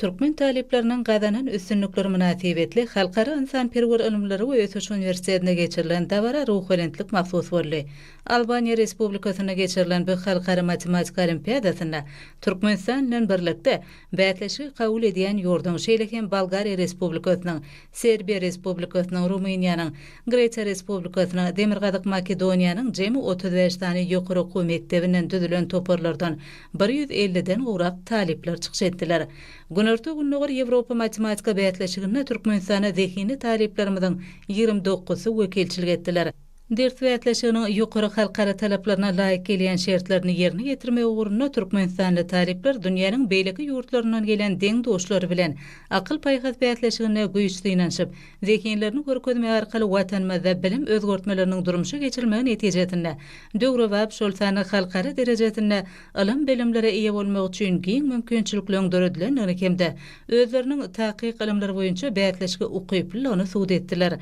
Türkmen talyplarynyň gazanan üstünlikleri mynasybetli Halkara ynsanperwer ylymlary we ösüş uniwersitetinde geçirilen dabara ruhubelentlik mahsus boldy. Albaniýa Respublikasynda geçirilen bu halkara matematika olimpiadasynda Türkmenistan bilen birlikde bäsleşigi kabul edýän ýurduň, şeýle hem Bolgariýa Respublikasynyň, Serbiýa Respublikasynyň, Rumyniýanyň, Gresiýa Respublikasynyň, Demirgazyk Makedoniýanyň jemi otuz bäş sany ýokary okuw mekdebinden düzülen toparlardan bir ýüz elliden gowrak talyplar çykyş etdiler. Günorta-Gündogar Ýewropa matematika bäsleşiginde Türkmenistana zehinli talyplarymyzyň ýigrimi dokuzysy wekilçilik etdiler. Ders bäsleşiginiň ýokary halkara talaplaryna laýyk gelýän şertlerini ýerine ýetirmek ugrunda türkmenistanly talyplar dünýäniň beýleki ýurtlaryndan gelen deň-duşlary bilen akyl-paýhas bäsleşiginde güýç synanyşyp, zehinlerini görkezmek arkaly Watanymyzda bilim özgertmeleriniň durmuşa geçirilmegi netijesinde, döwrebap, şol sanda halkara derejesinde ylym-bilimlere eýe bolmak üçin giň mümkinçilikleriň döredilendigini hem-de özleriniň takyk ylymlar boýunça bäsleşige ukyplylygyny subut etdiler.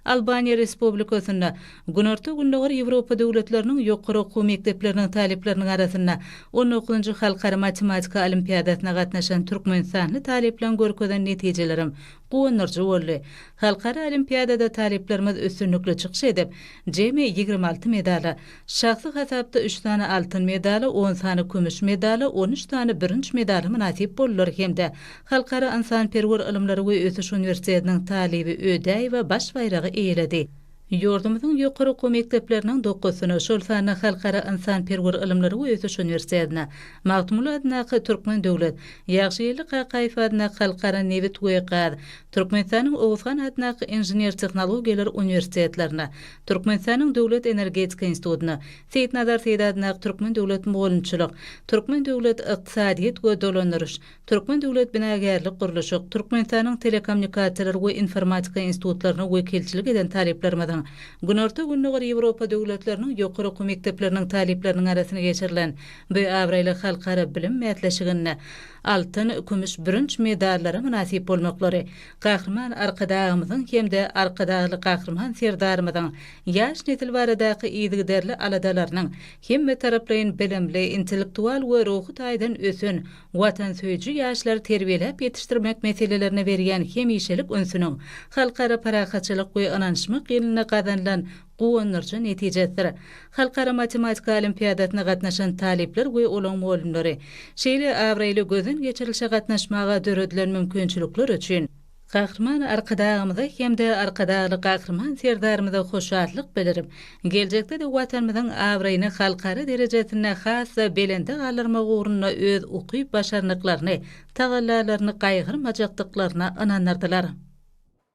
Albaniýa Respublikasynda Günorta-Gündogar Ýewropa döwletleriniň ýokary okuw mekdepleriniň talyplarynyň arasynda on dokuzynjy Halkara matematika olimpiadasyna gatnaşan türkmenistanly talyplaryň görkezen netijelerem guwandyryjy boldy. Halkara olimpiadada talyplarymyz üstünlikli çykyş edip, jemi ýigrimi alty medala, şahsy hasapda üç sany altyn medala, on sany kümüş medala, on üç sany bürünç medala mynasyp boldular hem-de Halkara ynsanperwer ylymlary we ösüş uniwersitetiniň talyby Ödäýewa baş baýragy eýeledi. Ýurdumyzyň ýokary okuw mekdepleriniň dokuzysyna, şol sanda Halkara ynsanperwer ylymlary we ösüş uniwersitedine, Magtymguly adyndaky Türkmen döwlet, Ýagşygeldi Kakaýew adyndaky Halkara nebit we gaz, Türkmenistanyň Oguzhan adyndaky Inžener-tehnologiýalar uniwersitetlerine, Türkmenistanyň Döwlet energetika institutyna, Seýitnazar Seýit adyndaky Türkmen döwlet mugallymçylyk, Türkmen döwlet ykdysadyýet we dolandyryş, Türkmen döwlet binagärlik-gurluşyk, Türkmenistanyň Telekommunikasiýalar we informatika institutlaryna wekilçilik eden talyplarymyzyň, Günorta-Gündogar Ýewropa döwletleriniň ýokary okuw mekdepleriniň talyplarynyň arasynda geçirilen bu abraýly halkara bilim bäsleşiginde altyn, kümüş, bürünç medallara mynasyp bolmaklary Gahryman Arkadagymyzyň hem-de Arkadagly Gahryman Serdarymyzyň ýaş nesil baradaky yzygiderli aladalarynyň hemmetaraplaýyn bilimli, intellektual we ruhy taýdan ösen watansöýüji ýaşlary terbiýeläp ýetişdirmek meselelerine berýän hemişelik ünsüniň halkara parahatçylyk we ynanyşmak ýylynda gazanylan guwandyryjy netijesidir. Halkara matematika olimpiadasyna gatnaşan talyplar we olaň mugallymlary şeýle abraýly gözden geçirilişe gatnaşmaga döredilen mümkinçilikler üçin, Gahryman Arkadagymyza hem-de Arkadagly Gahryman Serdarymyza hoşallyk bildirip, geljekde-de Watanymyzyň abraýyny halkara derejesinde has-da belende galdyrmak ugrunda öz ukyp-başarnyklaryny, tagallalaryny gaýgyrmajakdyklaryna ynandyrdylar.